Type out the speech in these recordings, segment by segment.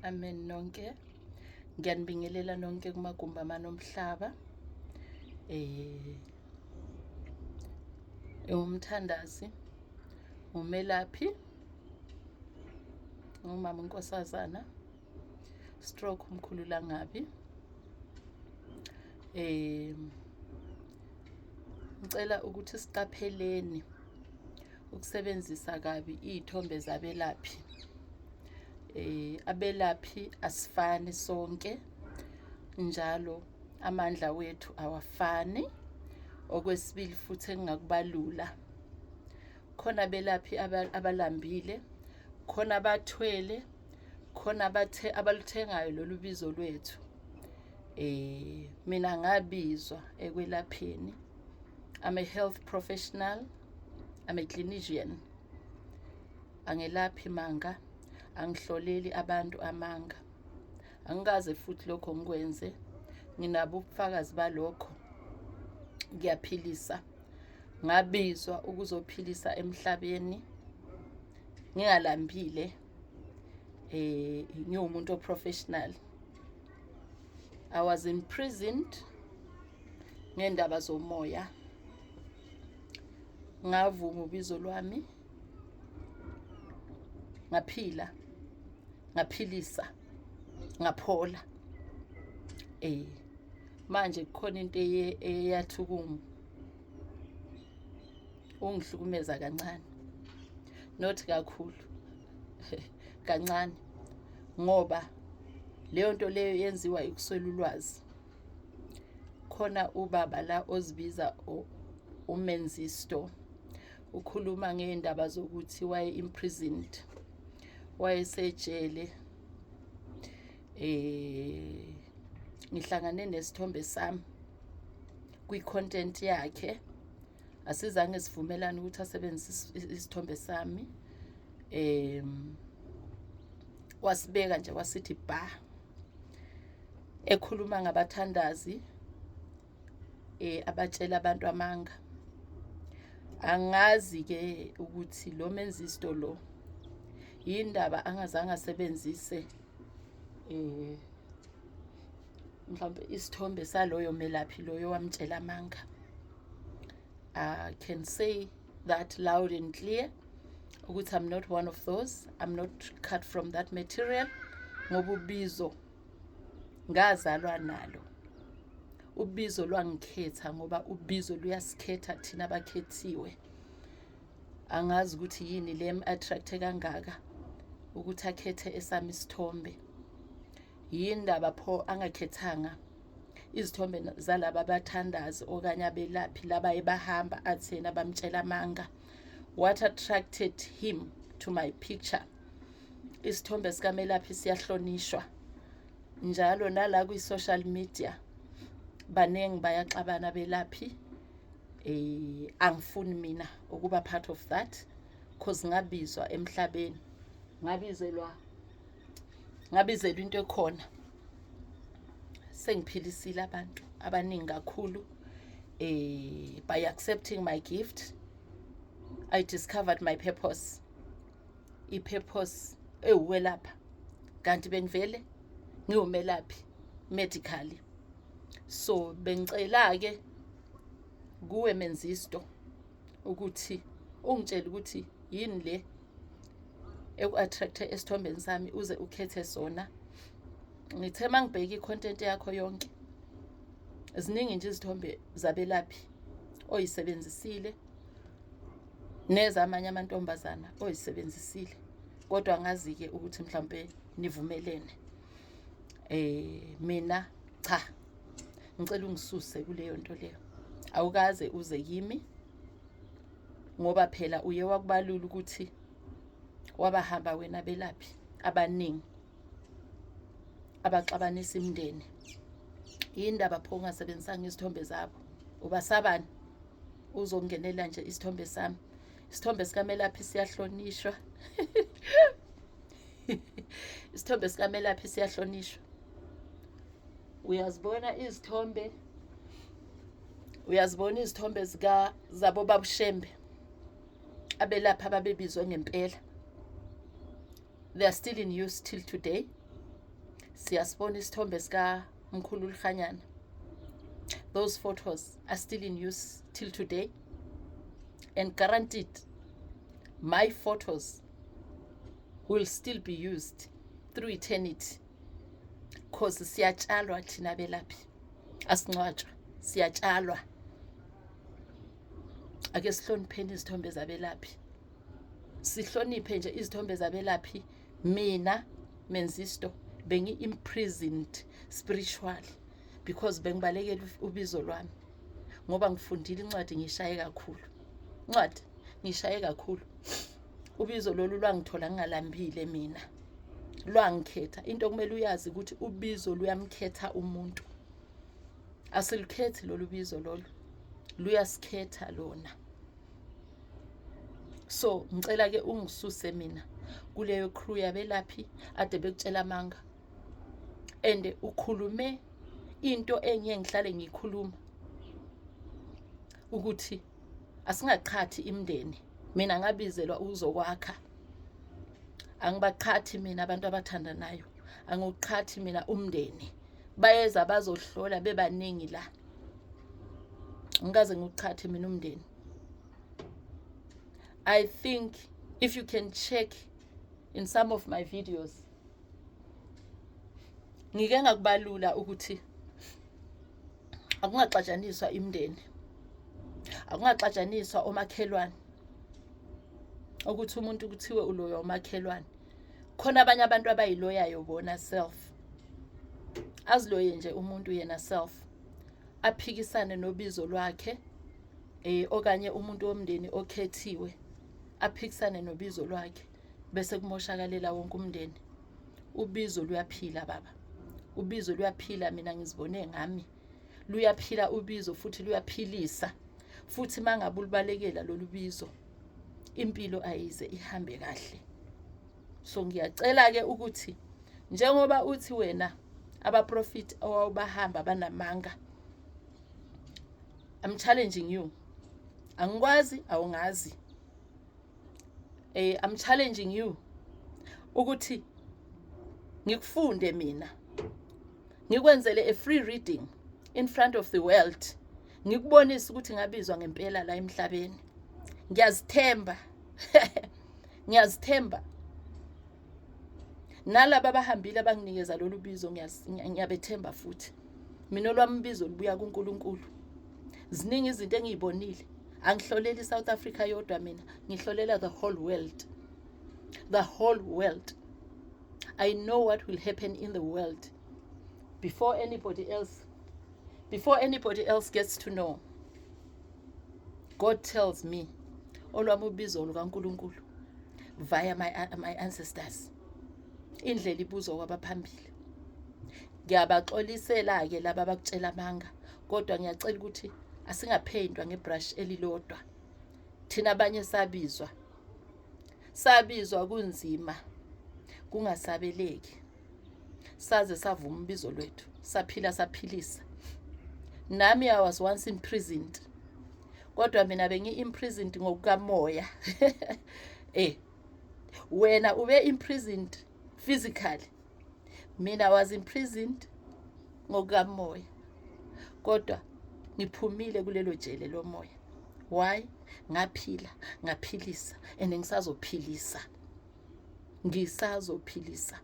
amen nonke ngiyanibingelela nonke kumagumbi amanomhlaba eh ewumthandazi umelaphi umama unkosazana stroke umkhulu langabi eh ngicela ukuthi siqapheleni ukusebenzisa kabi iy'thombe zabelaphi eh abelaphi asifani sonke njalo amandla wethu awafani okwesibili futhi engingakubalula khona abelaphi abalambile khona abathwele khona abathe abaluthengayo lolu bizo lwethu eh mina ngabizwa ekwelapheni I'm a health professional I'm a clinician angelaphi manga angihloleli abantu amanga angikaze futhi lokho ngikwenze nginabo ubufakazi balokho ngiyaphilisa ngabizwa ukuzophilisa emhlabeni ngingalambile eh ngiwumuntu oprofessional i was imprisoned ngendaba zomoya ngavuma ubizo lwami ngaphila ngaphilisa ngaphola eh manje kukhona into eyathi kimi ungihlukumeza kancane not kakhulu kancane ngoba leyo nto leyo yenziwa ikuswela ulwazi khona ubaba la ozibiza umenzisto ukhuluma ngey'ndaba zokuthi waye-imprisoned wayesejele eh ngihlangane nesithombe sami kwi-content yakhe asizange sivumelane ukuthi asebenzise isithombe sami um wasibeka nje wasithi ba ekhuluma ngabathandazi eh abatshela abantu amanga angazi ke ukuthi lo menzisto lo yindaba angazange asebenzise eh mhlawumbe isithombe saloyo melaphi loyo wamtshela amanga I can say that loud and clear ukuthi I'm not one of those I'm not cut from that material ngoba ubizo ngazalwa nalo ubizo lwangikhetha ngoba ubizo luyasikhetha thina bakhethiwe angazi ukuthi yini le attracte kangaka ukuthi akhethe esami isithombe yini ndaba pho angakhethanga izithombe zalaba bathandazi okanye abelaphi laba ebahamba athena bamtshela amanga what attracted him to my picture isithombe sikamelaphi siyahlonishwa njalo nala kwi-social media baningi bayaxabana belaphi eh angifuni mina ukuba part of that cause ngabizwa emhlabeni ngabizelwa ngabizelwa into ekhona sengiphilisile abantu abaningi kakhulu eh by accepting my gift i discovered my purpose i-purpose ewuwelapha kanti bengivele ngiwumelaphi medically so bengicela-ke kuwe menzisto ukuthi ungitshele ukuthi yini le eku-attract-e esithombeni sami uze ukhethe sona ngithe uma ngibheke i-content yakho yonke ziningi nje izithombe zabelaphi oyisebenzisile nezamanye amantombazana oyisebenzisile kodwa ngazi-ke ukuthi mhlawumpe nivumelene eh mina cha ngicela ungisuse kuleyo nto leyo awukaze uze kimi ngoba phela uye wakubalula ukuthi wabahamba wena belaphi abaningi abaxabanisa imndeni yini ndaba pho ungasebenzisanga izithombe zabo ubasabani uzongenela nje isithombe sami isithombe sikamelaphi siyahlonishwa isithombe sikamelaphi siyahlonishwa uyazibona izithombe uyazibona izithombe zika zabo babushembe abelapha ababebizwe ngempela they are still in use till today siyasibona isithombe sika mkhulu lihanyana those photos are still in use till today and guaranteed my photos will still be used through eternity cause siyatshalwa thina belaphi asincwatshwa siyatshalwa ake sihlonipheni izithombe zabelaphi sihloniphe nje izithombe zabelaphi mina menzisto bengi-imprisoned spiritually because bengibalekela ubizo lwami ngoba ngifundile incwadi ngishaye kakhulu incwadi ngishaye kakhulu ubizo lolu lwangithola ngingalambile mina lwangikhetha into okumele uyazi ukuthi ubizo luyamkhetha umuntu asilukhethi lolu bizo lolu luyasikhetha lona so ngicela ke ungisuse mina kuleyo crew yabelaphi ade bekutshela amanga and ukhulume into engiye ngihlale ngikhuluma ukuthi asingaqhathi imndeni mina ngabizelwa ukuzokwakha angibaqhathi mina abantu abathandanayo angiwuqhathi mina umndeni bayeza bazohlola bebaningi la ngikaze ngiwuqhathe mina umndeni i think if you can check in some of my videos ngike ngakubalula ukuthi akungaxatshaniswa imndeni akungaxatshaniswa omakhelwane ukuthi umuntu kuthiwe uloya umakhelwane khona abanye abantu abayiloyayo bona self aziloye nje umuntu yena self aphikisane nobizo lwakhe eh okanye umuntu womndeni okhethiwe aphikisane nobizo lwakhe bese kumoshakalela wonke umndeni ubizo luyaphila baba ubizo luyaphila mina ngizibone ngami luyaphila ubizo futhi luyaphilisa futhi mangabe ulibalekela lolu bizo impilo ayize ihambe kahle so ngiyacela ke ukuthi njengoba uthi wena abaprofit owawubahamba banamanga i'm challenging you angikwazi awungazi eh i'm challenging you ukuthi ngikufunde mina ngikwenzele a free reading in front of the world ngikubonise ukuthi ngabizwa ngempela la emhlabeni ngiyazithemba ngiyazithemba nalaba abahambile abanginikeza lolu bizo ngiyabethemba futhi mina olwami ubizo lubuya kuNkulunkulu ziningi izinto engiyibonile angihloleli iSouth Africa yodwa mina ngihlolela the whole world the whole world i know what will happen in the world before anybody else before anybody else gets to know God tells me olwami ubizo lukaNkulunkulu via my, my ancestors indlela ibuzwa kwabaphambili ngiyabaxolisela-ke laba abakutshela amanga kodwa ngiyacela ukuthi asingapheyintwa ngebrush elilodwa thina abanye sabizwa sabizwa kunzima kungasabeleki saze savuma umbizo lwethu saphila saphilisa nami i was once imprisoned kodwa mina bengi-imprisoned ngokukamoya eh wena ube imprisoned physically mina was imprisoned ngokukamoya kodwa ngiphumile kulelo jele lomoya why ngaphila ngaphilisa and ngisazophilisa ngisazophilisa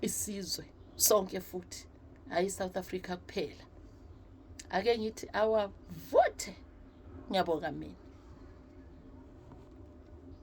isizwe sonke futhi hayi South Africa kuphela ake ngithi awavuthe ngiyabonga mina